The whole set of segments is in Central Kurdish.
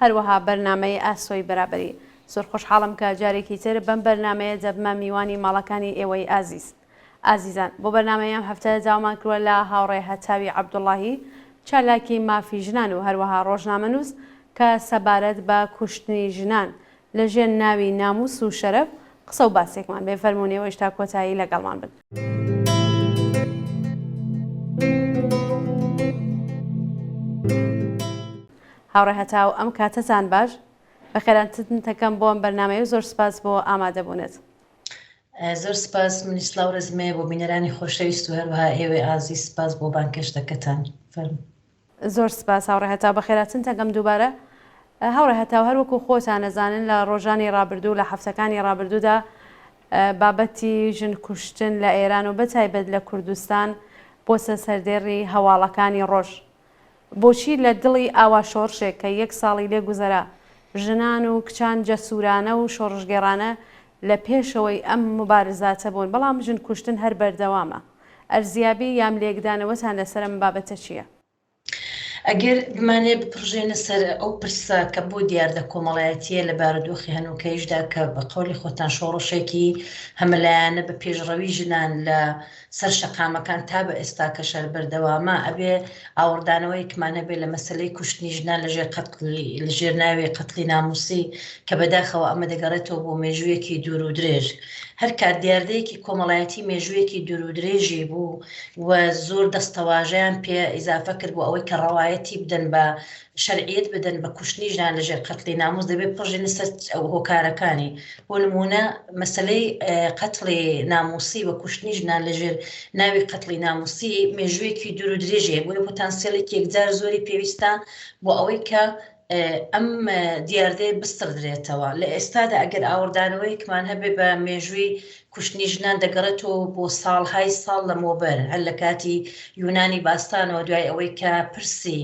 هەروەها بەرنامەی ئاسۆی بەرابەری. زۆر خۆشحاڵم کە جارێکی تر بەم بەرنامەیە دەبمە میوانی ماڵەکانی ئێوەی ئازیز. ئازیزان بۆ بەرنامەی ئەم هەفتە داوامان کروە لە هاوڕێ هەتاوی عەبدوڵاهی چالاکی مافی ژنان و هەروەها ڕۆژنامەنووس کە سەبارەت بە کوشتنی ژنان لە ژێر ناوی نامووس و شەرەف قسە و باسێکمان بێ فەرموون ئێوەیش تا کۆتایی لەگەڵمان بن. هاوڕێ هەتاو ئەم کاتەتان باش بەخێرانتتن تەکەم بۆ ئەم بەرنامەیە و زۆر سپاس بۆ ئامادەبوونت. زۆر سپاس منی سلاو رزمێ بۆ بینەرانی خۆشەویست و هەروەها ئێوەی ئازیز سپاس بۆ بانگهێشتەکەتان فەرموو. زۆر سپاس هاوڕێ هەتاو بەخێراتن تەکەم دووبارە هاوڕێ هەتاو هەر وەکو خۆتان ئەزانن لە رۆژانی رابردوو لە حەفتەکانی رابردوودا بابەتی ژن کوشتن لە ئێران و بەتایبەت لە کوردستان بۆسە سەردێڕی هەواڵەکانی رۆژ بۆچی لە دڵی ئاوا شۆڕشێک کە یەک ساڵی لێ گوزەرا، ژنان و کچان جەسوورانە و شۆڕشگێڕانە لە پێشەوەی ئەم موبارزاتە بوون، بەڵام ژن کوشتن هەر بەردەوامە. ئەرزیابی یام لێکدانەوەتان لەسەر ئەم بابەتە چییە؟ ئەگەر بمانەوێت بپڕژێنە سەر ئەو پرسە کە بۆ دیاردە کۆمەڵایەتییە لە بارودۆخی هەنووکەییشدا کە بە قەولی خۆتان شۆڕشێکی هەمەلایەنە بە پێشڕەوی ژنان لە سەر شەقامەکان تا بە ئێستاکە شەر بەردەوامە ئەبێ ئاوڕدانەوەیەکمان هەبێ لە مەسەلەی کوشتنی ژنان لە ژێر قەتڵی لە ژێر ناوی قەتڵی نامووسی کە بەداخەوە ئەمە دەگەڕێتەوە بۆ مێژوویەکی دوور و درێژ هەر کات دیاردەیەکی کۆمەڵایەتی مێژوویەکی دوور و درێژی بوو و زۆر دەستەواژەیان پێ ئیزافە کرد بۆ ئەوەی کە ڕەوایەتی بدەن بە شەرعیەت بدەن بە کوشتنی ژنان لە ژێر قەتلی ناموس دەبێت بڕژێنە سەر هۆکارەکانی بۆ نموونە مەسەلەی قەتڵی ناموسی و کوشتنی ژنان لە ژێر ناوی قەتڵی ناموسی مێژوویەکی دوور و درێژەیە بۆیە پۆتانسیلێک یەکجار زۆری پێویستە بۆ ئەوەی کە ئەم دیاردەیە بستڕدرێتەوە لە ئێستادا ئەگەر ئاوردانەوەیکمان هەبێ بە مێژووی کوشتنی ژنان دەگەڕێتەوە بۆ ساڵهای ساڵ لەمەوبەر، هەر لە کاتی یونانی باستانەوە دوای ئەوەی کە پرسی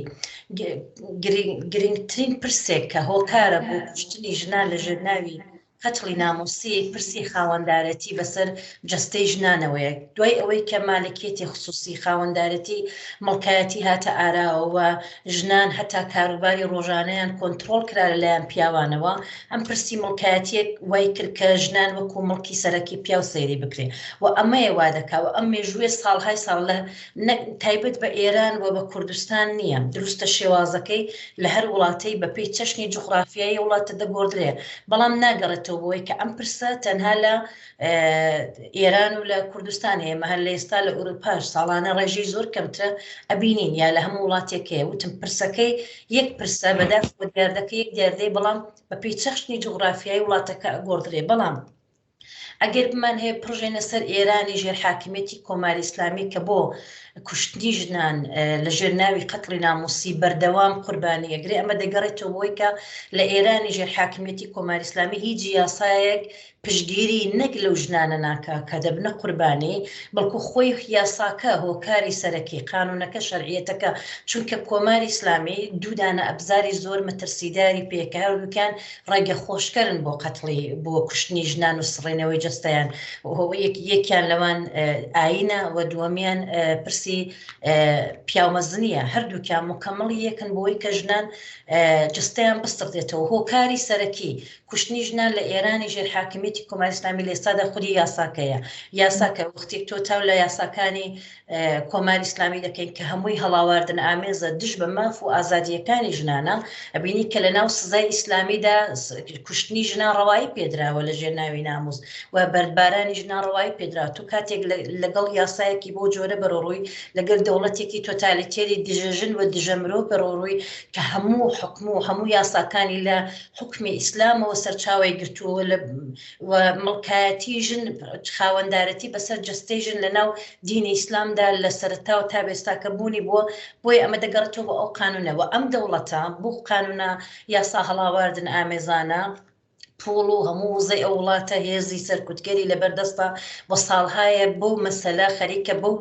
گرنگترین پرسێک کە هۆکارە بۆ کوشتنی ژنان لە ژێرناوی قەتڵی ناموسی پرسی خاوەندارەتی بەسەر جەستەی ژنانەوەیە دوای ئەوەی کە مالکیەتی خصوصی خاوەندارەتی مڵکایەتی هاتە ئاراوە ژنان هەتا کاروباری ڕۆژانەیان کۆنتڕۆڵ کرا لە لایەن پیاوانەوە، ئەم پرسی مڵکایەتییەک وای کرد کە ژنان وەکوو مڵکی سەرەکی پیاو سەیری بکرێ و ئەمەیە وا دەکا و ئەم مێژوویە ساڵهای ساڵ لە نەک تایبەت بە ئێران و بە کوردستان نییە، دروستە شێوازەکەی لە هەر وڵاتەی بە پێی چەشنی جوغڕافیایی وڵاتە دەگۆڕدرێ، بەڵام ناگەڕێتەوە بۆ ئەوەی کە ئەم پرسە تەنها لە. ئێران و لە کوردستان هەیە مەهر لە ئێستا لە ئوروپاش ساڵانە ڕێژی زۆر کەمترە ئەبینین یا لە هەموو وڵاتێکەیە وتم پرسەکەی یەک پرسە بەداخ دیاردەکە یەک دیاردەی بەڵام بە پێی چەخشنی جوغرافیای وڵاتەکە ئەگۆڕدرێ بەڵام ئەگەر بمان هەیە پرژێنە سەر ئێرانی ژێر حاکمێتی کۆماری ئسلامی کە بۆ کوشتنی ژنان لە ژێر ناوی قەتڵی ناموسی بەردەوام قوربانی ئەگرێ ئەمە دەگەڕێتەوە بۆی کە لە ئێرانی ژێر حاکمێتی کۆماری ئسلامی هیچ یاسایەک پشتگیری نەک لەو ژنانە ناکا کە دەبنە قوربانی، بەڵکو خۆی یاساکە هۆکاری سەرەکی، قانونەکە، شەرعیەتەکە، چونکە کۆماری ئیسلامی دوو دانە ئەبزاری زۆر مەترسیداری پێیە کە هەردووکیان ڕێگە خۆشکەرن بۆ قەتڵی، بۆ کوشتنی ژنان و سڕینەوەی جەستەیان و یەکیان لەوان ئایینە و دووەمیان پرسی پیاومەزنیە، هەردووکیان موکەمڵی یەکن بۆوەی کە ژنان جەستەیان بسڕدێتەوە، هۆکاری سەرەکی، کوشتنی ژنان لە ئێرانی ژێر حاکمیەتی کۆماری ئیسلامی لە ئێستادا خودی یاساکەیە یاساکە وەختێک تۆ چاو لە یاساکانی کۆماری ئیسلامی دەکەین کە هەمووی هەڵاواردن ئامێزە دژ بە ماف و ئازادیەکانی ژنانە ئەبینی کە لە ناو سزای ئیسلامیدا کوشتنی ژنان ڕەوایی پێدراوە لە ژێر ناوی ناموز و بەردبارانی ژنان ڕەوایی پێدرا تو کاتێک لەگەڵ یاسایەکی بۆ جۆرە بەرەڕووی لەگەل دەوڵەتێکی تۆتالیتێری دژەژن و دژە مرۆڤ بەرەڕووی کە هەموو حکم و هەموو یاساکانی لە حوکمی ئیسلامەوە سەرچاوەی گرتووە لە و مڵکایەتی ژن خاوەندارەتی بەسەر جەستەی ژن لە ناو دینی ئیسلامدا لە سەرتاوە تا بێستاکە بوونی بووە بۆی ئەمە دەگەڕێتەوە بۆ ئەو قانونەوە ئەم دەوڵەتە بۆ قانونە یاسا هەڵاواردن ئامێزانە پوڵ و هەموو وزەی ئەو وڵاتە هێزی سەرکوتگەری لەبەردەستە بۆ ساڵهایە بۆ مەسەلە خەریکە بەو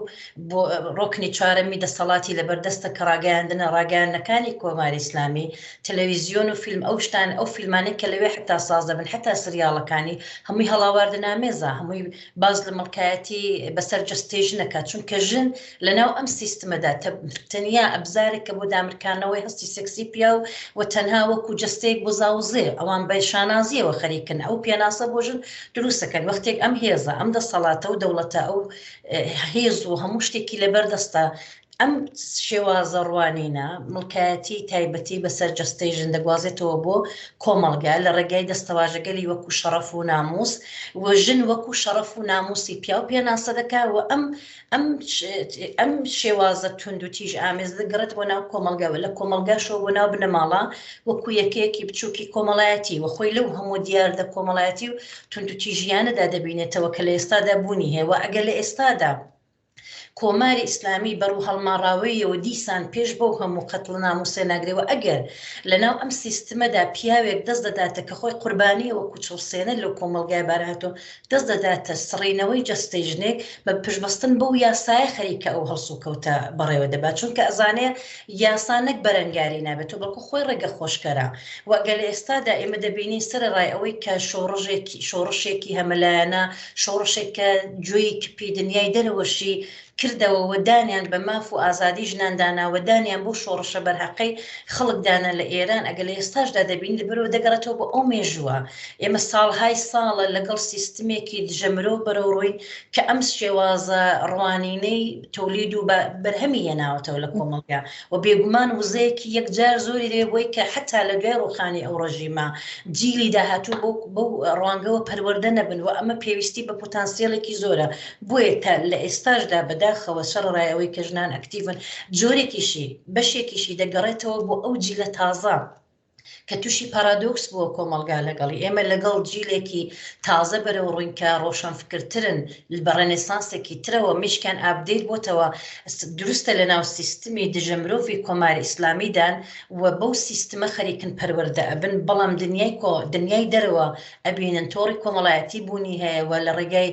بۆ ڕۆکنی چارەمی دەسەڵاتی لەبەردەستە کە ڕاگەیاندنە ڕاگەیانەکانی کۆماری ئسلامی تەلەویزیۆن و فیلم ئەو شتانە ئەو فیلمانەی کە لەوێ حەتا ساز دەبن حەتا سریاڵەکانی هەمووی هەڵاواردنامێزە هەمووی باس لە مەڵکایەتی بەسەر جەستەی ژنەکە چونکە ژن لەناو ئەم سیستمەدا تەنیا ئەبزارێکە بۆ دامرکانەوەی هەستی سکسی پیاو و تەنها وەکو جەستەیەک بۆ زاوزێ ئەوان بە شانازیەوە خەریکن ئەو پێناسە بۆ ژن دروستەکەن وەختێک ئەم هێزە ئەم دەسەڵاتە و دەوڵەتە ئەو هێز و هەموو شتێکی لەبەردەستە ئەم شێوازە ڕوانینە مڵکایەتیی تایبەتی بەسەر جەستەی ژن دەگوازێتەوە بۆ کۆمەڵگە لە ڕێگای دەستەواژەگەلی وەکو شەڕەف و نامووس و ژن وەکو شەڕەف و نامووسی پیاو پێناسە دەکات و ئەم ئەم ئەم شێوازە توند و تیژ ئامێز دەگەڕێت بۆ ناو کۆمەڵگە و لە کۆمەڵگاشەوە بۆ ناو بنەماڵە وەکو یەکەیەکی بچووکی کۆمەڵایەتی و خۆی لەو هەموو دیاردە کۆمەڵایەتی و توند و تیژییانەدا دەبینێتەوە کە لە ئێستادا بوونی هەیە و ئەگەر لە ئێستادا کۆماری ئیسلامی بە ڕووهەڵماڕاوەییەوە دیسان پێش بەو هەموو قەتڵنام و سێناگرەوە ئەگەر لە ناو ئەم سیستمەدا پیاوێک دەست دەداتە کە خۆی قوربانییە وەکوو چڵسێنەر لەو کۆمەڵگای بارهاتۆ دەست دەداتە سڕینەوەی جەستەی ژنێک بە پشتبەستن بەو یاسایە خەریکە ئەو هەڵسوکەوتە بەڕێوە دەبات چونکە ئەزانێ یاسا نەک بەرەنگاری نابێتەوە بەڵکوو خۆی ڕێگە خۆشکەرە و گەر لە ئێستادا ئێمە دەبینین سەرەڕای ئەوەی کە شۆڕژێکی شۆڕشێکی هەمەلایەنە شۆڕشێک کە جۆی کپی دنیای دەرەوەشی کردەوە و دانیان بە ماف و ئازادی ژنان دانا و دانیان بەو شۆڕشە بەرهەقەی خەڵک دانا لە ئێران ئەگەر لە ئێستاشدا دەبینین لەبەرئەوە دەگەڕێتەوە بۆ ئەو مێژووە ئێمە ساڵهای ساڵە لەگەڵ سیستمێکی دژە مرۆڤ بەرەوڕووین کە ئەم شێوازە ڕوانینەی تولید و بەرهەمی هێناوەتەوە لە کۆمەڵگا و بێگومان وزەیەکی یەکجار زۆری دەبێت بۆی کە حەتا لە دوای ڕووخانی ئەو ڕژیمە جیلی داهاتوو بەو بەو ڕوانگەوە پەروەردە نەبن و ئەمە پێویستی بە پوتانسیەلێکی زۆرە بۆیە تا لە ئێستاشدا بەداخەوە سەڕەڕای ئەوەی کە ژنان ئەکتیڤن جۆرێکیشی بەشێکیشی دەگەڕێتەوە بۆ ئەو جیلە تازە کە تووشی پارادۆکس بووە کۆمەڵگا لەگەڵی، ئێمە لەگەڵ جیلێکی تازە بەرەوڕووین کە ڕۆشەنفکرترن بە ڕێنێسانسێکی ترەوە، مێشکیان ئابدەیت بۆتەوە، دروستە لەناو سیستمی دژە مرۆڤی کۆماری ئیسلامیدان و بەو سیستمە خەریکن پەروەردە ئەبن، بەڵام دنیای دەرەوە ئەبینن تۆڕی کۆمەڵایەتی بوونی هەیە و لە ڕێگای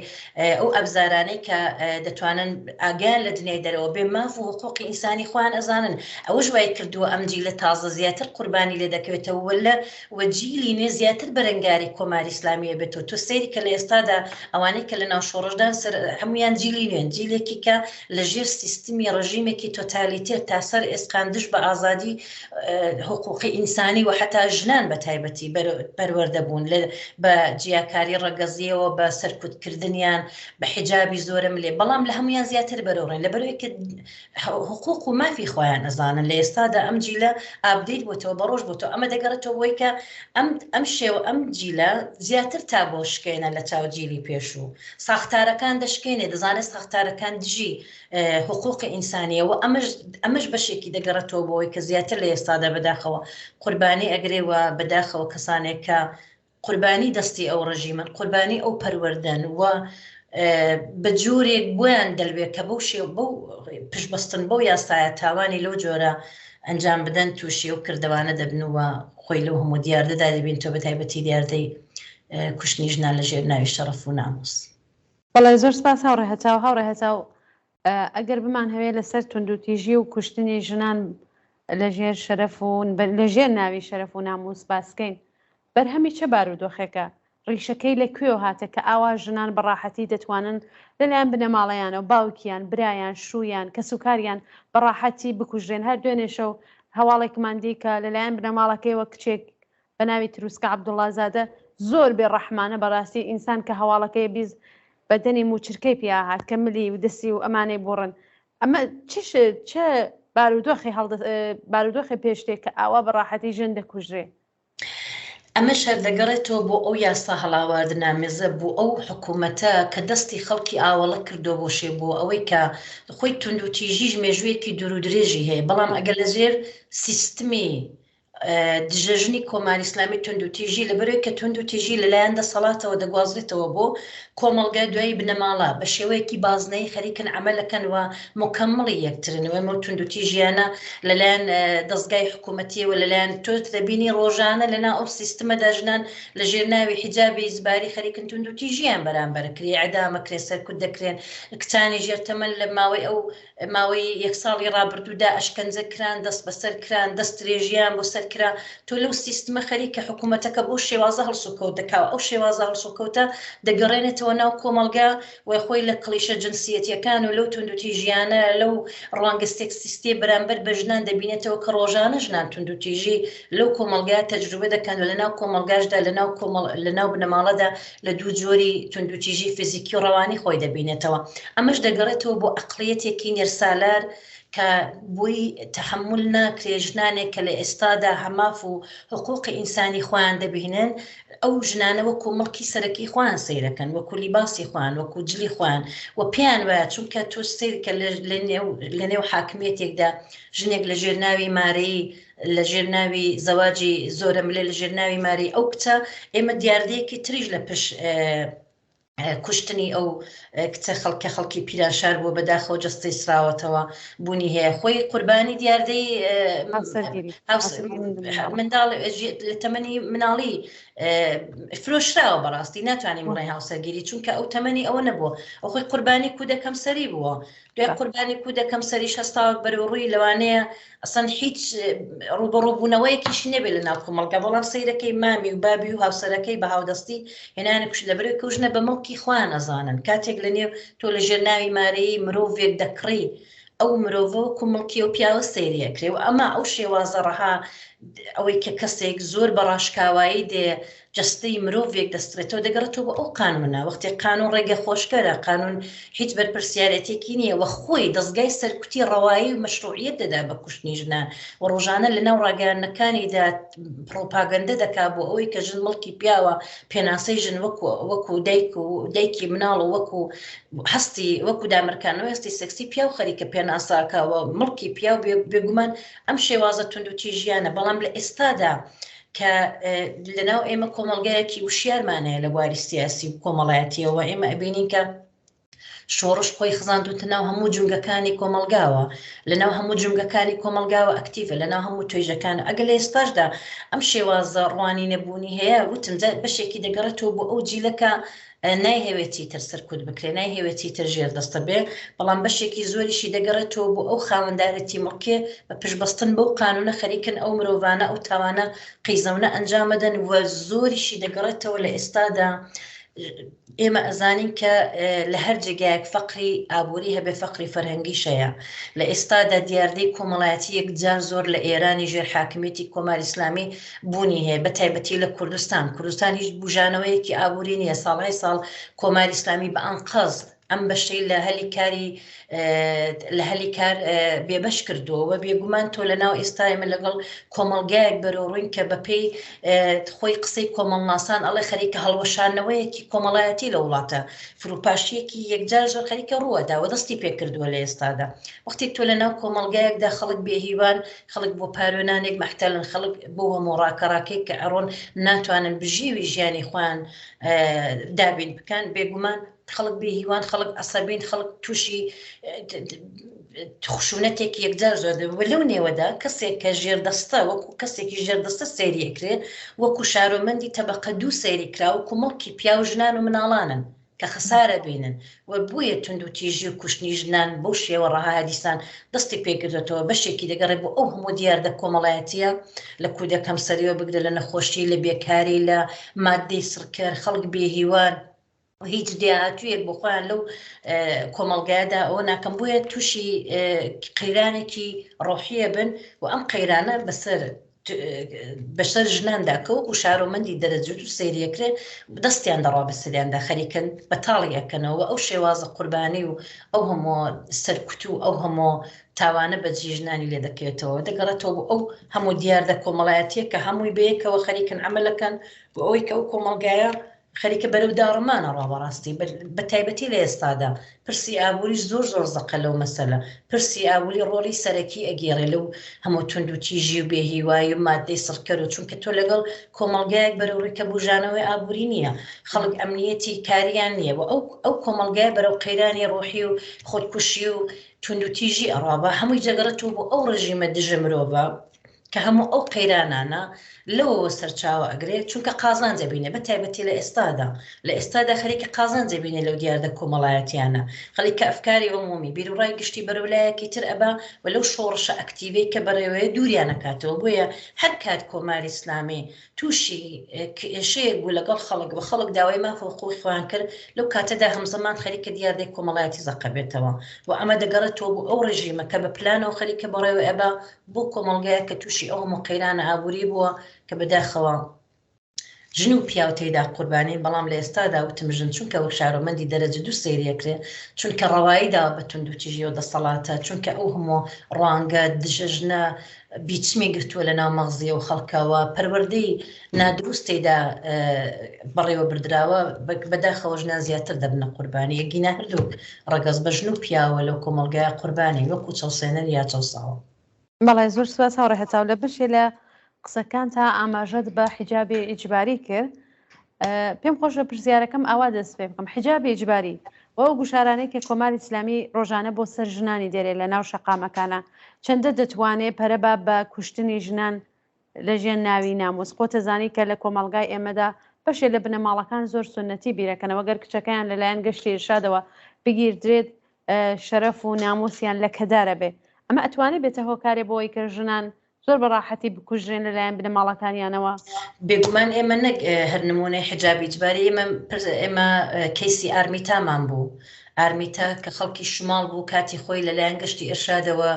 ئەو ئەبزارانەی کە دەتوانن ئاگیان لە دنیای دەرەوە بێ ماف و حقوقی ئینسانی خۆیان ئەزانن ئەوە ژوای کردووە ئەم جی لە تازە زیاتر قوربانی لێ دەکەوێتەوە وەلە وەجیلی نوێ زیاتر بەرەنگاری کۆماری ئسلامیە بێت و تۆ سەیری کە لە ئێستادا ئەوانەی کە لە ناو شۆڕشدان سەر هەمویان جیلی نوێن جیلێکی کە لە ژێر سیستمی ڕژیمێکی تۆتالیتێت تا سەر ئێسقان دش بە ئازادی حقوقی ئینسانی و حەتا ژنان بە تایبەتی پەروەردە بوون بە جیاکاری ڕەگەزییەوە بە سەرکوت کردنیان بە حیجابی زۆرە ملێ بەڵام لە هەمویان زیاتر بەرەوڕێن لە بەرەوەی کە حقوق و مافی خۆیان ئەزانن لە ئێستادا ئەم جیلە ئابدیت بۆتەوە بە ڕۆژ بۆتەوە ئەمە دەگەڕێتەوە بۆی کە ئەم ئەم شێو ئەم جیلە زیاتر تا بۆ شکێنە لە چاو جیلی پێشوو ساختارەکان دەشکێنێ دەزانێت ساختارەکان دژی حقوقی ئینسانیە و ئەمەش ئەمەش بەشێکی دەگەڕێتەوە بۆی کە زیاتر لە ئێستادا بەداخەوە قوربانی ئەگرێ و بەداخەوە کەسانێک کە قوربانی دەستی ئەو ڕژیمن قوربانی ئەو پەروەردەن و بە جۆرێک بۆیان دەلوێت کە بەو شێ بەو پشبستن بەو یاسایە تاوانی لەو جۆرە ئەنجام بدەن تووشی و کردوانە دەبنەوە خۆی لەو هەموو دیاردەدا دەبین تۆ بە تایبەتی دیاردەی کوشتنی ژنان لە ژێر ناوی شەڕف و ناموس. بەڵێ زۆر سپاس هاوڕێ هەتاو، هاوڕێ هەتاو ئەگەر بمانهەوێ لەسەر توندوتیژی و کوشتنی ژنان لەژێر شەرەف و لەژێر ناوی شەرەف و ناموس باسکەین بەرهەمی چە بارودۆخێکە؟ ڕیشەکەی لە کوێوە هاتە کە ئاوا ژنان بە ڕاحەتی دەتوانن لەلایەن بنەماڵەیانەوە باوکیان، برایان، شوویان، کەسوکاریان بە ڕاحەتی بکوژرێن هەر دوێنێ شەو هەواڵێکمان دی کە لەلایەن بنەماڵەکەیەوە کچێک بەناوی تروسکە عەبدوڵا زادە زۆر بێ ڕەحمانە بەڕاستی ئینسان کە هەواڵەکەی بیز بەدەنی موچرکەی پیا هات کە ملی و دەسی و ئەمانەی بوڕن ئەمە چش چ بارودۆخی هەڵ بارودۆخی پێشتێک کە ئاوا بەڕاحەتی ژن دەکوژرێ ئەمە شەردەگەڕێتەوە بۆ ئەو یاسا هەڵاواردنامێزە بۆ ئەو حکوومەتە کە دەستی خەڵکی ئاوەڵە کردو بۆ شێ بۆ ئەوەی کە خۆی توندوتیژیش مێژوویەکی دوور و درێژی هەیە بەڵام ئەگەر لەژێر سیستمی دژەژنی کۆماری ئیسلامی توندوتیژی لەبەرەوەی کە توندوتیژی لەلایەن دەسەڵاتەوە دەگوازرێتەوە بۆ کۆمەڵگای دوایی بنەماڵە بە شێوەیەکی بازنەی خەریکن عملەکەن و مکەمڵی یەکترنەوەی مە توندوتیژیانە لەلایەن دەستگای حکوومەتیەوە لەلایەن تۆت دەبینی ڕۆژانە لەنا ئەو سیستمە دەژنان لە ژێر ناوی حیجابی زباری خەریکن توندوتیژیان بەرامبەر کرێ عدامە کرێ سەرکوت دەکرێن کچانی ژێر تەمەن لە ماوەی ئەو ماوەی یەک ساڵی ڕابردوودا ئەشکەنجە کران دەست بەسەر کران دەست درێژیان بۆ سەر کرا تۆ لەو سیستمە خەریکە حکوومەتەکە بۆ شێوازە هەڵسوکەوت دەکاوە ئەو شێوازە هەڵسوکەوتە دەگەڕێنێتەوە ناو کۆمەڵگە وی خۆی لە کڵیشە جنسیەتەکان و لەو توندوتی ژیانە لەو ڕوانگە سێکسیستی بەرامبەر بە ژنان دەبینێتەوە کە ڕۆژانە ژنان توندوتیژی لەو کۆمەلگای تەجروبە دەکەن و لە ناو کۆمەلگاشدا لە ناو کۆمەڵ لە ناو بنەماڵەدا لە دوو جۆری توندوتیژی فیزیکی و ڕەوانی خۆی دەبینێتەوە، ئەمەش دەگەڕێتەوە بۆ عەقڵیەتێکی نێرسالار کە بۆی تەحەمول ناکرێ ژنانێک کە لە ئێستادا هەماف و حقوقی ئینسانی خۆیان دەبینن، ئەو ژنانە وەکو مڵکی سەرەکی خۆیان سەیرەکەن، وەکو لیباسی خۆیان، وەکو جلی خۆیان و پێیان وایە چونکە تۆ سەیرکە لە لە نێو لە نێو حاکمیەتێکدا ژنێک لە ژێر ناوی مارەیی، لە ژێر ناوی زەواجی زۆرە ملێ لە ژێر ناوی ماری ئەو کچە ئێمە دیاردەیەکی تریش لە پش کوشتنی ئەو کچە خەڵکە خەڵکی پیرانشار بووە بەداخەوە جستەی سراوەتەوە بوونی هەیە خۆی قوربانی دیاردەی منداڵ لە تەمەنی مناڵی فرۆشراوە بەڕاستی ناتوانانی مڵی هاوسەرگیری چونکە ئەو تەمەنی ئەوە نەبووە ئەو خۆی قوربانی کودەکەم سەری بووە دوای قوربانی کودەکەم سەری شەستاوە بەرەوڕووی لەوانەیە ئەسڵەن هیچ ڕووبەڕووبوونەوەیەکیشی نەبێت لە ناو کۆمەڵگا بەڵام سەیرەکەی مامی و بابی و هاوسەرەکەی بە هاودەستی هێنانە کوش لە بەرەوەی کەوژنە بە مڵکی خۆیان ئەزانن کاتێک لە نێو تۆ لە ژێر ناوی مارەیی مرۆڤێک دەکڕی ئەو مرۆڤە و کومڵکی و پیاوە سەیریە کرێ و ئەمە ئەو شێوازە ڕەها ئەوەی کە کەسێک زۆر بە ڕاشکاوایی دێ جەستەی مرۆڤێک دەستڕێتەوە دەگەڕێتەوە بۆ ئەو قانوونە، وەختێک قانوون ڕێگە خۆشکەرە، قانوون هیچ بەرپرسیارێتێکی نییە و خۆی دەزگای سەرکوتی ڕەوایی و مەشروعییەت دەدا بە کوشتنی ژنان و ڕۆژانە لەناو ڕاگەیاندنەکانیدا پڕوپاگەندە دەکا بۆ ئەوەی کە ژن مڵکی پیاوە، پێناسەی ژن وەکو وەکو دایک و دایکی مناڵ و وەکو هەستی وەکو دامرکانەوەی هەستی سێکسی پیاو خەریکە پێناسەکە و مڵکی پیاو بێ بێگومان ئەم شێوازە توندوتیژیانە بەڵام لە ئێستادا کە لەناو ئێمە کۆمەڵگایەکی وشیارمان هەیە لە بواری سیاسی و کۆمەڵایەتیەوە ئێمە ئەبینین کە شۆڕش خۆی خزاندوتە ناو هەموو جونگەکانی کۆمەلگاوە لەناو هەموو جونگەکانی کۆمەلگاوە ئەکتیڤە لەناو هەموو توێژەکان ئەگەل ئێستاشدا ئەم شێوازە ڕوانی نەبوونی هەیە وتمجار بەشێکی دەگەڕێتەوە بۆ ئەو جیلەکە نایهەوێ چیتر سەرکوت بکرێ، نایهەوێ چیتر ژێردەستە بێ، بەڵام بەشێکی زۆریشی دەگەڕێتەوە بۆ ئەو خاوەندارێتی مڵکێ بە پشتبەستن بەو قانوونە خەریکن ئەو مرۆڤانە ئەو تاوانە قیزەونە ئەنجامەدەن و زۆریشی دەگەڕێتەوە لە ئێستادا ئێمە ئەزانین کە لە هەر جێگایەک فەقری ئابووری هەبێ فەقری فەرهەنگی شەیە لە ئێستادا دیاردەی کۆمەڵایەتی یەکجار زۆر لە ئێرانی ژێر حاکمیەتی کۆماری ئیسلامی بوونی هەیە بە تایبەتی لە کوردستان کوردستان هیچ بژانەوەیەکی ئابووری نییە ساڵهای ساڵ کۆماری ئسلامی بە ئەنقەز ئەم بەشەی لە هەلی کاری لە هەلی کار بێبەش کردووە و بێگومان تۆ لە ناو ئێستای من لەگەڵ کۆمەلگایەک بەرەڕووین کە بەپێی خۆی قسەی کۆمەڵناسان ئەڵێ خەریکە هەڵوەشانەوەیەکی کۆمەڵایەتی لە وڵاتە فروپاشیەکی یەکجار زۆر خەریکە ڕووەداوە دەستی پێکردووە لە ئێستادا وەختی تۆ لە ناو کۆمەلگایەکدا خەڵک بێهیوان خەڵک بۆ پارو نانێک مەحتەلن، خەڵک بۆ هەموو ڕاکەڕاکێک کە ئەڕۆن ناتوانن بژیوی ژیانی خۆیان دابین بکەن، بێگومان خەڵک بێ هیوان، خەڵک عەسەبین، خەڵک تووشی خشونەتێک یەکجار زۆر دەبێت و لەو نێوەدا کەسێک کە ژێردەستە وەکو کەسێکی ژێردەستە سەیرێکرێت وەکو شارۆمەندی تەبەقە دوو سەیری کراوە کومەڵکی پیاو ژنان و مناڵانن کە خەسارە بینن و بۆیە توندوتیژی و کوشتنی ژنان بەو شێوە ڕەها هەدیسان دەستی پێکردۆتەوە بەشێکی دەگەڕێ بۆ ئەو هەموو دیاردە کۆمەڵایەتیە لە کودە کەمسەریەوە بگرە لە نەخۆشی لە بێکاری لە ماددەی سڕکەر خەڵک بێ هیوان و هیچ لێهاتوویەک بۆ خۆیان لەو کۆمەڵگایەدا ئەوە ناکەم بۆیە تووشی قەیرانێکی ڕۆحیە بن و ئەم قەیرانە بەسەر بەسەر ژناندا کە وەکو شارۆمەندی دەرەجوت و سریەکرێ دەستیان دەڕا بە سریاندا خەریکن بە تاڵی ئەکەنەوە ئەو شێوازە قوربانی و ئەو هەموو سەرکوت و ئەو هەموو تاوانە بە جیژنانی لێ دەکرێتەوە دەگەڕێتەوە بۆ ئەو هەموو دیاردە کۆمەڵایەتیە کە هەمووی بەیەکەوە خەریکن ئەمەلەکەن بۆ ئەوەی کە ئەو کۆمەلگایە خەریکە بەرەو داڕمانە ڕاوەڕاستی بە تایبەتی لە ئێستادا پرسی ئابووریش زۆر زۆر زەقە لەو مەسەلە پرسی ئابووری ڕۆڵی سەرەکی ئەگێڕێ لەو هەموو توندوتیژی و بێ هیوای و مادەی سڕکەر و چونکە تۆ لەگەڵ کۆمەڵگایەک بەرەو ڕیکە بوژانەوەی ئابووری نییە خەڵک ئەمنیەتی کاریان نییە و ئەو ئەو کۆمەڵگای بەرەو قەیرانی ڕۆحی و خۆدکوشی و توندوتیژی ئەڕا با هەمووی جەگەڕێتەوە بۆ ئەو ڕژیمە دژە مرۆڤە کە هەموو ئەو قەیرانانە لەوەوە سەرچاوە ئەگرێ چونکە قازانج ئەبینێ بە تایبەتی لە ئێستادا لە ئێستادا خەریکی قازانج ئەبینێ لەو دیاردە کۆمەڵایەتیانە خەڵک کە ئەفکاری عمومی بیروڕای گشتی بەرەو لایەکی تر ئەبا و لەو شۆڕشە ئەکتیڤەی کە بەڕێوەیە دووریان ئەکاتەوە بۆیە هەر کات کۆماری ئیسلامی تووشی کێشەیەک بوو لەگەڵ خەڵک و خەڵک داوای ماف و حقوقی خۆیان کرد لەو کاتەدا هەمزەمان خەریکە دیاردەی کۆمەڵایەتی زەقەبێتەوە و ئەمە دەگەڕێتەوە بۆ ئەو ڕێژیمە کە بە پلانەوە خەریکە بەڕێوە ئەبا بۆ کۆمەڵگایەک کە تووشی ئەو هەموو قەیرانە ئابووری بووە کە بەداخەوە ژن و پیاو تێدا قوربانین بەڵام لە ئێستادا وتم ژن چونکە وەک شارۆمەندی دەرەجە دوو سەیرەکرێ چونکە ڕەوایی داوە بە تونند و تیژی و دەسەڵاتە چونکە ئەو هەموو ڕوانگە دژە ژنە بیچمی گرتووە لە ناو مەغزی ئەو خەڵکەوە پەروەردەی نادروست تێیدا بەڕێوە بردراوە بەداخەوە ژنان زیاتر دەبنە قوربانی یەکگینا هەردوو ڕگەز بە ژن و پیاوە لەو کۆمەلگای قوربانی وەکو چەوسێنەر یا چەوساوە. بەڵێ زۆر سوپاس هاوڕێ هەتاو لە بەشێ لە قسەکانتا ئاماژەت بە حیجابی ئیجباری کرد پێم خۆش بە پرسیارەکەم ئاوا دەست پێ بکەم حیجابی ئیجباری و ئەو گوشارانەی کە کۆماری ئیسلامی ڕۆژانە بۆ سەر ژنانی دێرێ لە ناو شەقامەکانە چەندە دەتوانێ پەرەبا بە کوشتنی ژنان لە ژێر ناوی ناموس. خۆتەزانی کە لە کۆمەڵگای ئێمەدا بەشێ لە بنەماڵەکان زۆر سوننەتی بیرەکەنەوە گەر کچەکەیان لە لایەن گەشتی ئیرشادەوە بگیردرێت شەرەف و ناموسیان لە کەدارە بێ ئەمە ئەتوانێ بێتە هۆکارێ بۆی کە ژنان زۆر بە ڕاحەتی بکوژرێن لە لایەن بنەماڵەکانیانەوە. بێگومان ئێمە نەک هەر نموونەی حیجابی ئیجباری ئێمە ئێمە کەیسی ئارمیتامان بوو، ئارمیتا کە خەڵکی شماڵ بوو کاتی خۆی لە لایەن گەشتی ئێرشادەوە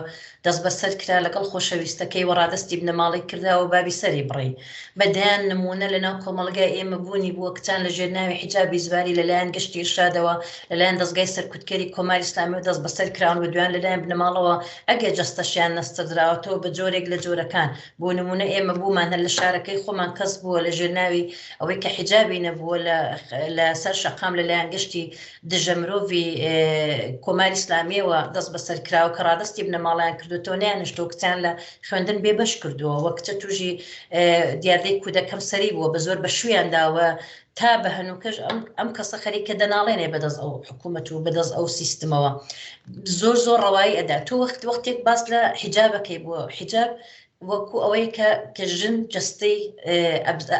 دەستبەسەر کرا لەگەڵ خۆشەویستەکەی وە ڕادەستی بنەماڵەی کرداوە بابی سەری بڕی بە دەیان نموونە لە ناو کۆمەڵگای ئێمە بوونی بووە کچان لە ژێر ناوی حیجابی زباری لە لایەن گەشتی ئێرشادەوە لە لایەن دەزگای سەرکوتکەری کۆماری ئیسلامیەوە دەستبەسەر کراون وە دویان لە لایەن بنەماڵەوە ئەگەر جەستەشیان نەستردراوەتەوە بە جۆرێک لە جۆرەکان بۆ نموونە ئێمە بوومان هەر لە شارەکەی خۆمان کەس بووە لە ژێر ناوی ئەوەی کە حیجابی نەبووە لە لە سەر شەقام لە لایەن گەشتی دژە مرۆڤی کۆماری ئیسلامیەوە دەست بەسەر کراوە کە ڕادستی بنەماڵیان کردوتەوە نیانشتۆ کچیان لە خوێندن بێ بەش کردووە وە کچە توژی دیاردەی کودەکەم سەری بووە بە زۆر بە شویان داوە تا بە هەنووکەش ئەم کەسە خەریکە دەناڵێنێ بەدەست ئەو حکوومەت و بەدەست ئەو سیستمەوە زۆر زۆر ڕەوایی ئەدا تۆ وەخت وەختێک باس لە حیجابەکەی بووە حیجاب وەکو ئەوەی کە کە ژن جەستەی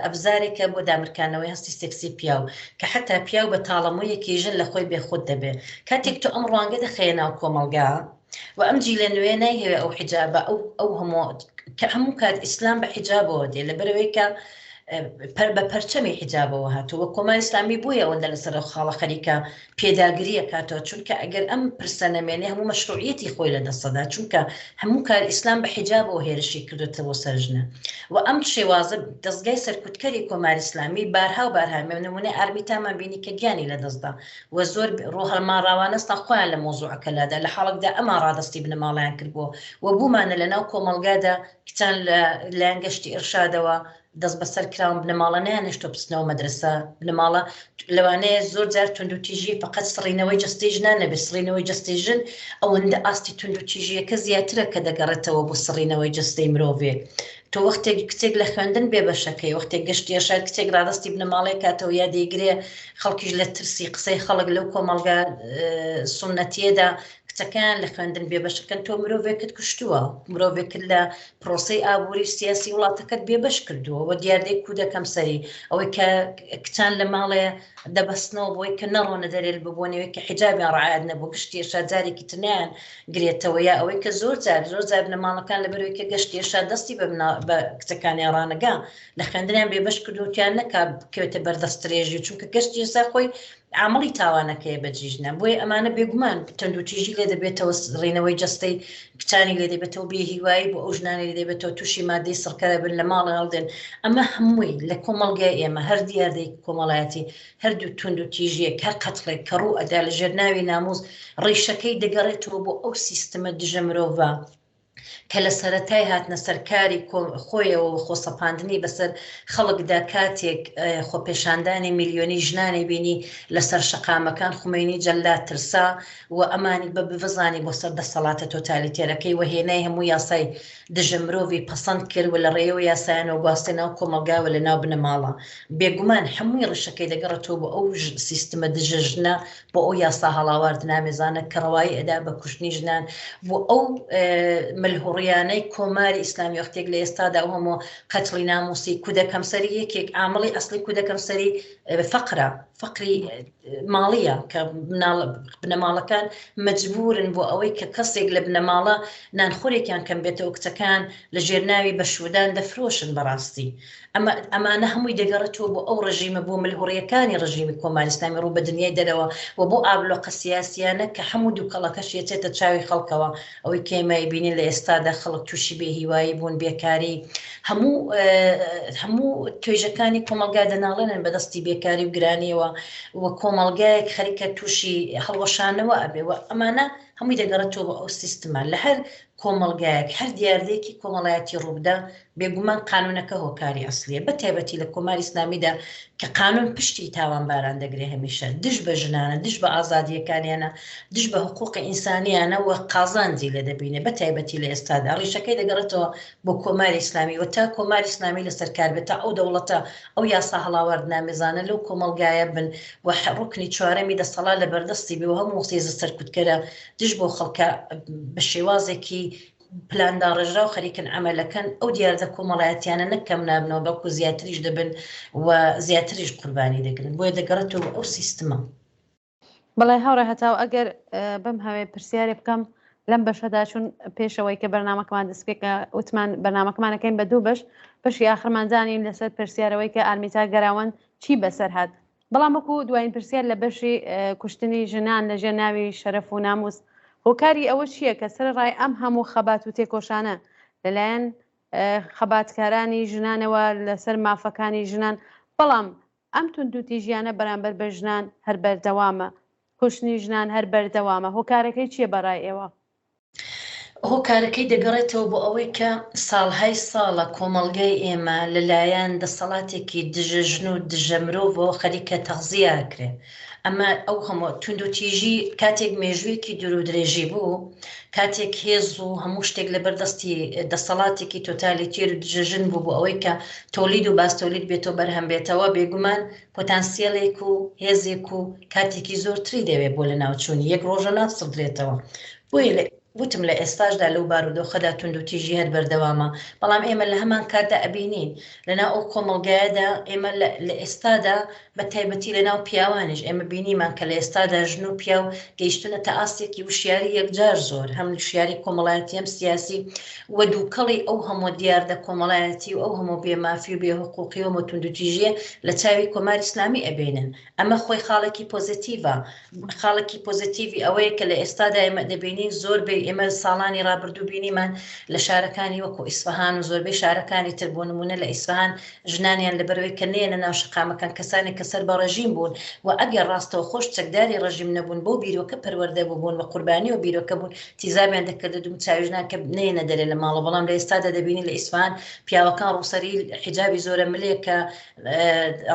ئەبزارێکە بۆ دامرکانەوەی هەستی سێکسی پیاو، کە حەتا پیاو بە تاڵە مویەکی ژن لە خۆی بێ خود دەبێ. کاتێک تۆ ئەم ڕوانگە دەخەیە ناو کۆمەڵگا و ئەم جیلە نوێیە نایهەوێ ئەو حیجابە ئەو ئەو هەموو کە هەموو کات ئیسلام بە حیجابەوە دێ لە بەرەوەی کە بە پەرچەمی حیجابەوە هاتووە کۆماری ئیسلامی بۆیە ئەوەندە لەسەر ئەو خاڵە خەریکە پێداگری ئەکاتەوە چونکە ئەگەر ئەم پرسە نەمێنێ هەموو مەشروعیەتی خۆی لە دەست ئەدا چونکە هەموو کار ئیسلام بە حیجابەوە هێرشی کردۆتە بۆ سەر ژنە وە ئەم شێوازە دەزگای سەرکوتکەری کۆماری ئیسلامی بارها و بارها مێ نمونەی ئارمیتامان بینی کە گیانی لە دەست دا وە زۆر روهەڵماراوانەستا خۆیان لە مەوزوعەکە لادا لە حاڵەکدا ئەمان رادەستی بنەماڵەیان کردبووە وە بوومانە لە ناو کۆمەڵگادا کچان لە لایەن گەشتی ئیرشادەوە دەست بەسەر کراون بنەماڵە نەیانهێشتوە بچنەوە مەدرەسە بنەماڵە لەوانەیە زۆر جار توندوتیژی فقط سڕینەوەی جەستەی ژنان نەبێت سڕینەوەی جەستەی ژن ئەوەندە ئاستی توندوتیژیەکە زیاترە کە دەگەڕێتەوە بۆ سڕینەوەی جەستەی مرۆڤێ تۆ وەختێک کچێک لە خوێندن بێ بەشەکەی وەختێک گەشتە شار کچێک ڕادستی بنەماڵەی کاتەوە یا دەیگرێ خەڵکیش لە ترسی قسەی خەڵک لەو کۆمەڵگا سنەتیەدا کچەکان لە خوێندن بێ بەشەکەن تۆ مرۆڤێکت کوشتووە مرۆڤێکت لە پرۆسەی ئابوری و سیاسی وڵاتەکەت بێ بەش کردووە وە دیاردەی کودەکەم سەری ئەوەی کە کچان لە ماڵێ دەبەستنەوە بۆی کە نەڕۆنە دەرێل ببوونەوەی کە حجابیان ڕعاەت نەبوو گشتێشا جارێکی تنیان گرێتەوە یا ئەوەی کە زۆر جار زۆر جار لە ماڵەکان لە بەرەوەی کە گەشتێشا دەستی بە بە کچەکانیان ڕانەگا لە خوێندنیان بێ بەش کردوتیان نەکا بکەوێتە بەردەسترێژی چونکە گەشتێسا خۆی عامڵی تاوانەکەیە بە جیژنە بۆیە ئەمانە بێگومان تەندوتیژی لێ دەبێتەوە سڕینەوەی جەستەی کچانی لێ دەبێتەوە بێ هیوایی بۆ ئەو ژنانی لێ دەبێتەوە تووشی مادەی سڕکەرە بن لە ماڵە هەڵدێن ئەمە هەمووی لە کۆمەڵگای ئێمە هەر دیاردەی کۆمەڵایەتی هەردوو تونند و تیژیەک هەر قەتڵێک کە ڕوو ئەدا لە ژێرناوی ناموز ڕیشەکەی دەگەڕێتەوە بۆ ئەو سیستمە دژە مرۆڤە کە لە سەرەتای هاتنە سەر کاری خۆیەوە و خۆسەپاندنی بەسەر خەڵکدا کاتێک خۆپێشاندانی ملیۆنی ژنانی بینی لە سەر شەقامەکان خومەینی جەلاد ترسا و ئەمانی بە بڤزانی بۆ سەر دەسەڵاتە تۆتالیتێرەکەی و هێنای هەموو یاسای دژە مرۆڤی پەسەند کرد و لە ڕێیەوە یاسایانەوە گواستە ناو کۆمەڵگا و لە ناو بنەماڵە بێگومان هەمووی ڕیشەکەی دەگەڕێتەوە بۆ ئەو سیستمە دژە ژنە بۆ ئەو یاسا هەڵاوارد نامێزانە کە ڕەوایی ئەدا بە کوشتنی ژنان بۆ ئەو ملهوڕیانەی کۆماری ئیسلامی وەختێک لە ئێستادا و هەمۆ قەتڵی ناموسی کودەکەم سەری یەکێک ئامڵی ئەسلی کودەکەم سەری فەقرە فەقری ماڵیە کە بنەماڵەکان مجبورن بۆ ئەوەی کە کەسێک لە بنەماڵە نانخۆرێکیان کەم بێتەوە کچەکان لە ژێر ناوی بە شودان دەفرۆشن بەڕاستی ئەمە ئەمانە هەمووی دەگەڕێتەوە بۆ ئەو ڕژیمە بۆ ملهوڕیەکانی ڕژیمی کۆماری ئیسلامی ڕوو بە دنیای دەرەوە و بۆ ئابلۆقە سیاسیانە کە هەموو دوکەڵەکەشی ئەچێتە چاوی خەڵکەوە ئەوەی کە ئێمە ئەیبینین لە ئێستادا خەڵک تووشی بێ هیوایی بوون بێکاری هەموو هەموو توێژەکانی کۆمەڵگا دەناڵێنن بە دەستی بێکاری و گرانیەوە و کۆمەڵگایەک خەریکە تووشی هەڵوەشانەوە ئەبێ و ئەمانە هەمووی دەگەڕێتەوە بۆ ئەو سیستمە لە هەر کۆمەڵگایەک هەر دیاردەیەکی کۆمەڵایەتی ڕووبدا، بێگومان قانوونەکە هۆکاری ئەسڵییە، بەتایبەتی لە کۆماری ئیسلامیدا کە قانوون پشتی تاوانباران دەگرێ هەمیشە دژ بە ژنانە، دژ بە ئازادییەکانیانە، دژ بە حقووقی ئینسانییانە و قازانجی لێ دەبینێ، بەتایبەتی لە ئێستادا ڕیشەکەی دەگەڕێتەوە بۆ کۆماری ئیسلامی و تا کۆماری ئیسلامی لەسەر کار بێ، تا ئەو دەوڵەتە ئەو یاسا هەڵاواردنامێزانە لەو کۆمەڵگایە بن و ڕوکنی چوارەمی دەسەڵات لەبەردەستی بێ و هەموو هێزە سەرکوتکەرە دژ بۆ خەڵکە بە شێوازێکی پلانداڕێژرا و خەریکن ئەمەلەکەن ئەو دیاردە کۆمەڵایەتیانە نەکەم نابنەوە بەڵکو زیاتریش دەبن و زیاتریش قوربانی دەگرن بۆیە دەگەڕێتەوە ئەو سیستمە بەڵی هاوڕێ هەتاو ئەگەر بم هەوێ پرسیارێ بکەم لەم بەشەدا چون پێشەوەی کە بەرنمەکەمان دەستپێکە وتمان بەرنمەکەمانەکەین بە دوو بەش بەشی ئاخرمانزانین لەسەر پرسیارەوەی کە ئارمیتا گەراوەند چی بەسەر هاات بەڵام وەکو دوایین پرسیار لە بەشی کوشتنی ژنان لە ژێ ناوی شەرەف و ناموس هۆکاری ئەوە چییە کە سەر ڕای ئەم هەموو خەبات و تێکۆشانە لەلایەن خەباتکارانی ژنانەوە لەسەر مافەکانی ژنان بەڵام ئەم توندوتیژیانە بەرامبەر بە ژنان هەر بەردەوامە کوشتنی ژنان هەر بەردەوامە هۆکارەکەی چییە بەڕای ئێوە هۆکارەکەی دەگەڕێتەوە بۆ ئەوەی کە ساڵهای ساڵە کۆمەڵگای ئێمە لە لایەن دەسەڵاتێکی دژە ژن و دژە مرۆڤەوە خەریکە تەغزیە ئەکرێ ئەمە ئەو هەموو توندوتیژی کاتێک مێژوویەکی دوور و درێژی بوو کاتێک هێز و هەموو شتێک لە بەر دەستی دەسەڵاتێکی تۆتالیتێر و دژە ژن بوو بۆ ئەوەی کە تۆلید و باستۆلید بێتەوە بەرهەم بێتەوە بێگومان پۆتانسیەلێک و هێزێک و کاتێکی زۆرتری دەوێت بۆ لەناوچوونی، یەک ڕۆژە ناسڕدرێتەوە، بۆیە وتم لە ئێستاشدا لەو بارودۆخەدا توندوتیژی هەر بەردەوامە، بەڵام ئێمە لە هەمان کاتدا ئەبینین لەناو ئەو کۆمەڵگایەدا ئێمە لە ئێستادا بە تایبەتی لەناو پیاوانیش ئێمە بینیمان کە لە ئێستادا ژن و پیاو گەیشتوونەتە ئاستێکی وشیاری یەکجار زۆر هەم وشیاری کۆمەڵایەتی هەم سیاسی و دووکەڵی ئەو هەموو دیاردە کۆمەڵایەتی و ئەو هەموو بێ مافی و بێ حقوقی و هەموو توندوتیژیە لە چاوی کۆماری ئیسلامی ئەبینن ئەمە خۆی خاڵێکی پۆزەتیڤە خاڵێکی پۆزەتیڤی ئەوەیە کە لە ئێستادا ئێمە دەبینین زۆر بێ ئێمە ساڵانی ڕابردوو بینیمان لە شارەکانی وەکو ئیسفەهان و زۆربەی شارەکانی تر بۆ نمونە لە ئیسفەهان ژنانیان لەبەرەوەی کە نێنە ناو شەقامەکان کەسانێک کە سەر بە ڕێژیم بوون و ئەگەر ڕاستەوخۆش چەکداری ڕێژیم نەبوون بەو بیرۆکە پەروەردە بووبوون و قوربانی ئەو بیرۆکە بوون تیزابیان دەکرد و دومچاویژنان کە نەیەنە دەرێ لە ماڵە بەڵام لە ئێستادا دەبینی لە ئیسفان پیاوەکان ڕووسری حیجابی زۆرە ملێک کە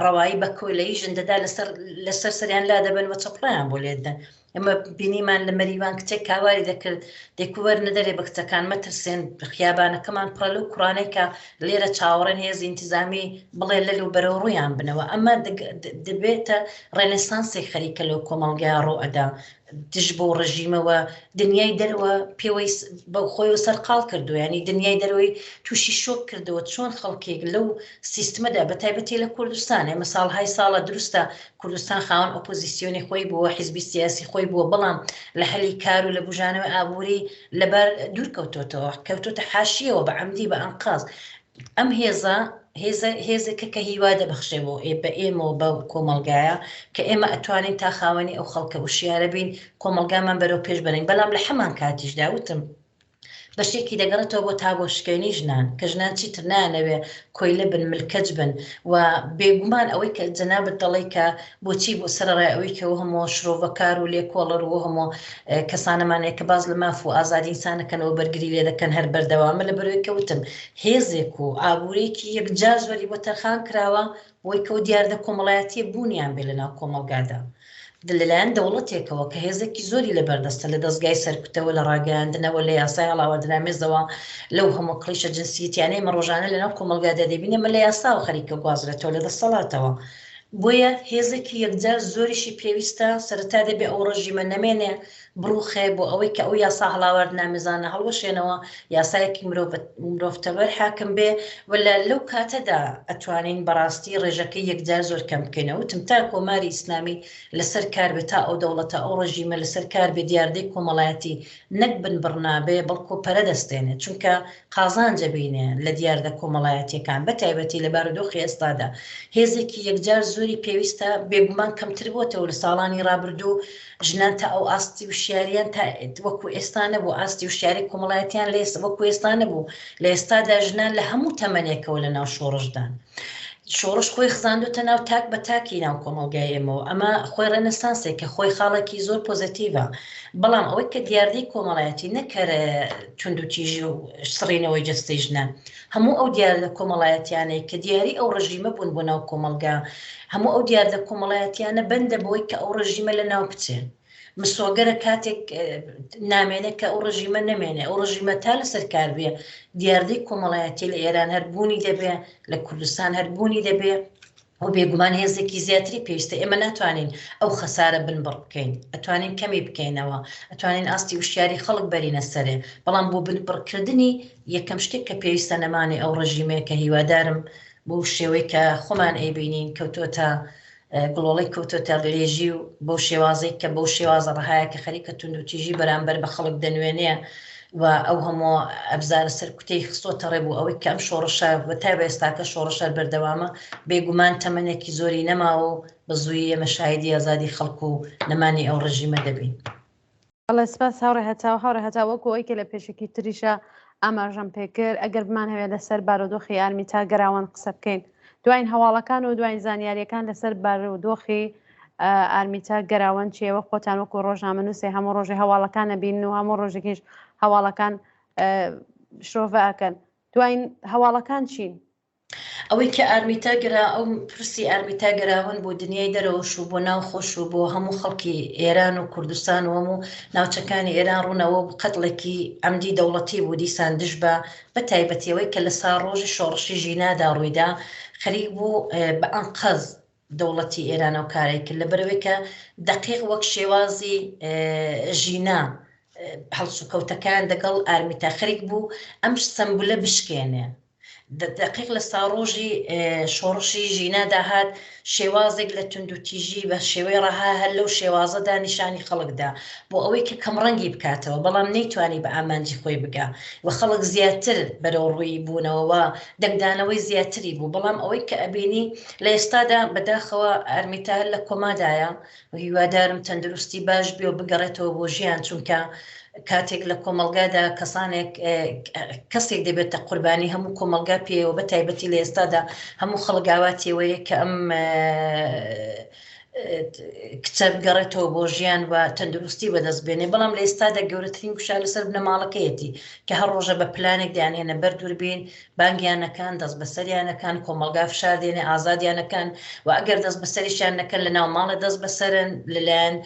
ڕەوایی بە کۆلەی ژندەدا لەسەر لەسەر سەریان لا دەبن وە چپڕیان بۆ لێدەن ئەمە بینیمان لە مەریوان کچێک کاواری دەکرد دەکوەر نەدەرێ بە کچەکان مەترسێن خیابانەکەمان پڕە لەو کوڕانەی کە لێرە چاوەڕێن هێز ئینتیزامی بڵێ لەل و بەرەو ڕویان بنەوە ئەمە دەبێتە ڕێنسانسی خەریکە لەو کۆمەڵگای ڕۆئەدا دژ بەو ڕژیمە و دنیای دەرەوە پێوەی بە خۆی سەرقاڵ کردو ینی دنیای دەرەوەی تووشی شۆک کردەوە چۆن خەڵکێک لەو سیستمەدا بە تایبەتی لە کوردستان ئێمە ساڵهای ساڵە دروستە کوردستان خاوەن ئۆپۆزیسیۆنی خۆی بووە حیزبی سیاسی خۆی بووە بەڵام لە هەلی کار و لە بژانەوە ئابووری لەبەر دوورکەوتۆتەوە کەوتۆتە حاشیەوە بە عمدی بە ئەنقاز ئەم هێزە هێزە هێزێکە کە هیوا دەبەخشێ بۆ ئێ بە ئێمە و بە کۆمەڵگایە کە ئێمە ئەتوانین تا خاوەنی ئەو خەڵکە وشیارە بین کۆمەڵگامان بەرەو پێش بەرین بەڵام لە حەمان کاتیشدا وتم بەشێکی دەگەڕێتەوە بۆ تا بۆ شکێنی ژنان کە ژنان چیتر نانەوێ کۆیلە بن ملکەج بن و بێگومان ئەوەی کە جەنابەت دەڵێ کە بۆچی بۆ سەرەڕای ئەوەی کە ئەو هەمووە شرۆڤەکار و لێکۆڵەر و ئەو هەمووە کەسانەمان هەیە کە باس لە ماف و ئازادی ئینسان دەکەن و بەرگری لێ دەکەن هەر بەردەوامە لە بەرەوەی کە وتم هێزێک و ئابوورێکی یەکجار زۆری بۆ تەرخان کراوە بۆی کەو دیاردە کۆمەڵایەتیە بوونیان بێ لەناو کۆمەڵگادا لەلایەن دەوڵەتێکەوە کە هێزێکی زۆری لە بەردەستە لە دەستگای سەرکوتەوە لە ڕاگەیاندنەوە لە یاسای هەڵاوەدرامێزەوە لەو هەموو کڵیشە جنسیتیانەی مە ڕۆژانە لەناو کۆمەلگادا دەبینێ مە لە یاساوە خەریکە گوازرێتەوە لە دەسەڵاتەوە بۆیە هێزێکی یەکجار زۆریشی پێویستە، سەرەتا دەبێ ئەو ڕژیمە نەمێنێ، بڕووخێ، بۆ ئەوەی کە ئەو یاسا هەڵاواردنامێزانە هەڵوەشێنەوە، یاسایەکی مرۆڤ مرۆڤتەوەر حاکم بێ و لە لەو کاتەدا ئەتوانین بە ڕاستی ڕێژەکەی یەکجار زۆر کەم بکەین. ئەوتم تا کۆماری ئیسلامی لە سەر کار بێ، تا ئەو دەوڵەتە، ئەو ڕژیمە لە سەر کار بێ، دیاردەی کۆمەڵایەتی نەک بن بڕنابێ بەڵکۆ پەرە دەستێنێ چونکە قازانج ئەبینێ لە دیاردە کۆمەڵایەتیەکان بە تایبەتی لە بارودۆخی ئێستادا هێزێکی یەکجار زۆری پێویستە بێگومان کەمتر بۆتەوە لە ساڵانی ڕابردوو ژنان تا ئەو ئاستی وشیاریان تا وەکو ئێستا نەبوو ئاستی وشیاری کۆمەڵایەتیان لە وەکو ئێستا نەبوو لە ئێستادا ژنان لە هەموو تەمەنێکەوە لە ناو شۆڕشدان شۆڕش خۆی خزاندۆتە ناو تاک بە تاکی ناو کۆمەڵگای ئێمەوە ئەمە خۆی ڕێنسانسێک کە خۆی خاڵێکی زۆر پۆزەتیڤە بەڵام ئەوەی کە دیاردەی کۆمەڵایەتی نەکەر توندوتیژی و سڕینەوەی جستەی ژنە هەموو ئەو دیاردە کۆمەڵایەتیانەی کە دیاری ئەو ڕژیمە بوون بۆ ناو کۆمەلگا هەموو ئەو دیاردە کۆمەڵایەتیانە بەندە بۆی کە ئەو ڕژیمە لە ناو بچێت مسۆگەرە کاتێک نامێنێت کە ئەو ڕژیمە نەمێنێ ئەو ڕژیمە تا لەسەر کار بێ دیاردەی کۆمەڵایەتی لە ئێران هەربوونی دەبێ لە کوردستان هەربوونی دەبێ و بێگومان هێزێکی زیاتری پێویستە ئێمە ناتوانین ئەو خەسارە بنبڕ بکەین ئەتوانین کەمی بکەینەوە ئەتوانین ئاستی وشیاری خەڵک بەرینە سەرێ بەڵام بۆ بنبڕکردنی یەکەم شتێک کە پێویستە نەمانی ئەو ڕژیمێک کە هیوادارم بۆ شێوەی کە خۆمان ئەیبینین کەوتۆتە گڵۆڵەی کەوتۆتە ڕێژی و بەو شێوازەی کە بەو شێوازە ڕەهایە کە خەریکە توندوتیژی بەرامبەر بە خەڵک دەنوێنێ و ئەو هەموو ئەبزارە سەرکوتەی خستۆتە ڕێ بوو ئەوەی کەم شۆڕشە بە تا بە ئێستاکە شۆڕشەر بەردەوامە بێگومان تەمەنێکی زۆری نەماوە و بە زووی ئێمە شاهیدی ئازادی خەڵک و نەمانی ئەو ڕژیمە دەبین. بەڵێ سپاس هاوڕێ هەتاو هاوڕێ هەتا وەکو ئەوی کە لە پێشکی تریشە ئاماژەم پێکرد ئەگەر بمان هەوێت لەسەر بارودۆخی ئارمی تا گەراوان قسە بکەین دوین هەواڵەکان و دوین زانیاریەکان لەسەر بارودۆخی ئارمیتا گەراوەن چێوە خۆتان وەکو ڕۆژنامە نووسێ هەموو ڕۆژی هەواڵەکان نەبین و هەموو ڕۆژێکیش هەواڵەکان شرۆڤەکەن دوین هەواڵەکان چین ئەوەی کە ئارمیتا گرا ئەو پرسی ئارمیتا گەراون بۆ دنیای دەرەوەش و بۆ ناو خۆش و بۆ هەموو خەڵکی ئێران و کوردستان و هەموو ناوچەکانی ئێران ڕوونەوە و قەتڵێکی عەمدی دەوڵەتی بوو دیسان دژ بە بە تایبەتی ئەوەی کە لە ساڕۆژی شۆڕشی ژینادا ڕوویدا خەریک بوو بە ئەنقەز دەوڵەتی ئێران ئەو کارەی کرد لە بەرەوەی کە دەقیق وەک شێوازی ژینا هەڵسوکەوتەکان دەگەڵ ئارمیتا خەریک بوو ئەم سەمبولە بشکێنێ دەقیق لە ساڕۆژی شۆڕشی ژینادا هات، شێوازێک لە توندوتیژی بە شێوەی ڕەها هەر لەو شێوازەدا نیشانی خەڵک دا، بۆ ئەوەی کە کەمڕەنگی بکاتەوە، بەڵام نەیتوانی بە ئامانجی خۆی بگا و خەڵک زیاتر بەرەو ڕووی بوونەوە و دەنگدانەوەی زیاتری بوو، بەڵام ئەوەی کە ئەبینی لە ئێستادا بەداخەوە ئارمیتا هەر لە کۆمادایە هیوادارم تەندروستی باش بێ و بگەڕێتەوە بۆ ژیان چونکە کاتێک لە کۆمەڵگادا کەسانێک کەسێک دەبێتە قوربانی هەموو کۆمەلگا پێەوە بە تایبەتی لە ئێستادا هەموو خەڵگاواتیەوەیە کە ئەم کچە بگەڕێتەوە بۆ ژیان و تەندروستی بەدەست بێنێ بەڵام لە ئێستادا گەورەترین گوشار لەسەر بنەماڵەکەیەتی کە هەر ڕۆژە بە پلانێک دەیانێنە بەر دووربین بانگیان نەکان دەست بەسەریان ئەکەن کۆمەڵگا فشار دێنێ ئازادیان ئەکەن و ئەگەر دەست بەسەریشیان نەکەن لە ناو ماڵێ دەست بەسەرن لەلایەن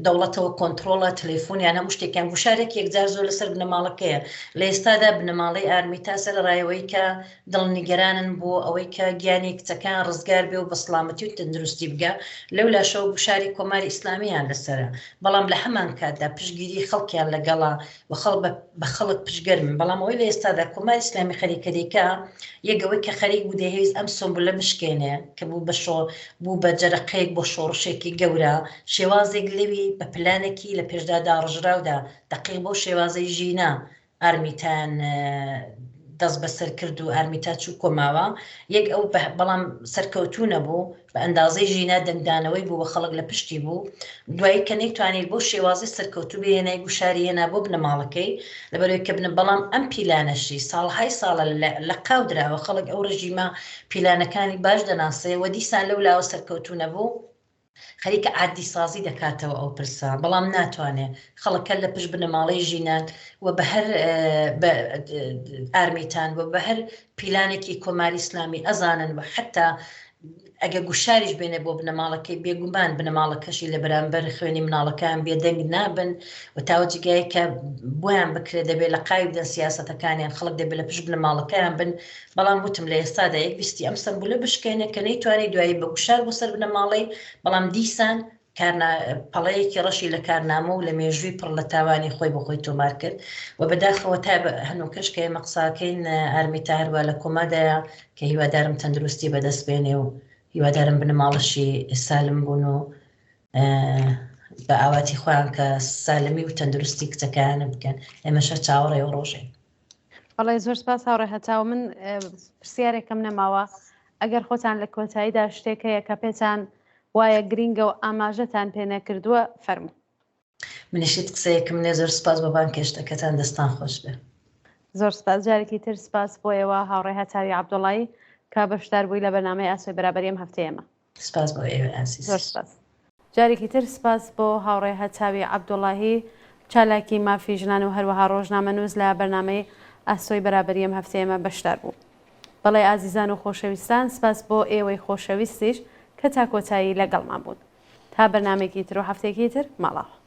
دەوڵەتەوە کۆنتترۆڵە تەلەفۆنیان هەموو شتێکیان گوشارێک یەکجار زۆر لەسەر بنەماڵەکەیە لە ئێستادا بنەماڵەی ئارمی تاسە لە ڕایەوەی کە دڵنیگەرانن بۆ ئەوەی کە گیانی کچەکان ڕزگار بێ و بە سلامەتی و تەندروستی بگە لەو لاشەوە گوشاری کۆماری ئیسلامیان لەسرە بەڵام لە هەمان کاتدا پشگیری خەڵکیان لەگەڵا بەخەڵک پشتگەر بن بەڵام ئەوەی لەئێستادا کۆماری ئیسلامی خەریکە دەیکا یەک ئەوەی کە خەریک بوو دەیهەویست ئەم سومبولە بشکێنێ کە بوو بە شۆ بوو بە جەرقەیەک بۆ شۆڕشێکی گەورە شێوازێک لەوی بە پلانێکی لە پێشدا داڕژراودا دەقیق بەو شێوازەی ژینا ئارمیتان دەست بەسەر کرد و ئارمیتا چوو کۆماوە یەک ئەو بەڵام سەرکەوتوو نەبوو بە ئەندازەی ژینا دەنگدانەوەی بوو و خەڵک لە پشتی بوو، دوایی کە نەیتوانی بەو شێوازەی سەرکەوتوو بێ هێنای گوشاری هێنا بۆ بنەماڵەکەی لەبەرەوەی کە بنە بەڵام ئەم پیلانەشی ساڵهای ساڵە لە قاو دراوە خەڵک ئەو ڕژیمە پیلانەکانی باش دەناسێ و دیسان لەو لاوە سەرکەوتوو نەبوو خەریکە عادی سازی دەکاتەوە ئەو پرسە بەڵام ناتوانێ خەڵکە لە پشت بنەماڵەی ژینان و بە هەر ئارمیتان و بە هەر پیلانێکی کۆماری ئیسلامی ئەزانن و حەتتا ئەگە گوشاریش بێنێ بۆ بنەماڵەکەی بێگومان بنەماڵەکەشی لە بەرامبەر خوێنی مناڵەکان بێدەنگ نابن و تاوە جگایە کە بۆیان بکرێت دەبێت لە قاوی بدەن سیاستەکانیان خەڵک دەبێت لە پشت بنەماڵەکەیان بن بەڵام وتم لە ئێستادا یەک ویستی ئەم سمبولە بشکێنێ کە نەیتوانانی دوایی بە گوشار بۆ سەر بنەماڵەی بەڵام دیسان کارنا، پەڵەیەکی ڕەشی لە کارنامە و لە مێژووی پڕ لە تاوانی خۆی بۆ خۆی تۆمار کرد و بەداخەوە تا هەنووکەش کە ئێمە قسە ئەکەین ئارمیتا هەروا لە کۆمادایە کە هیوادارم تەندروستی بەدەست بێنێ و هیوادارم بنەماڵەشی سالم بوون و بە ئاواتی خۆیان کە سالمی و تەندروستی کچەکەیانە بکەن ئێمەشە چاوەڕێ و ڕۆژێ بەڵێ زۆر سپاس هاوڕێ هەتاو من پرسیارێکم نەماوە ئەگەر خۆتان لە کۆتاییدا شتێک هەیە کە پێتان وایە گرینگە و ئاماژەتان پێ نەکردووە فەرمو منیشیت قسەیەکم نێ زۆر سپاس بە بان کێشتەکەتان دەستان خۆش بێ زۆر سپاس جارێکی تر سپاس بۆیەوە هاوڕێ هەتاوی عبدوڵایی کە بەشدار بووی لە بەنامەی ئاسۆی بەرابەریم هەفتەیەمە سپاس بۆ ئێوەی ئازیز. زۆر سپاس. جارێکی تر سپاس بۆ هاوڕێ هەتاوی عەبدوڵاهی، چالاکی مافی ژنان و هەروەها ڕۆژنامەنووس لە بەرنامەی ئاسۆی بەرابەری ئەم هەفتەی ئێمە بەشدار بوو. بەڵێ ئازیزان و خۆشەویستان، سپاس بۆ ئێوەی خۆشەویستیش کە تا کۆتایی لەگەڵمان بوون. تا بەرنامەیەکی تر و هەفتەیەکی تر، ماڵاوا.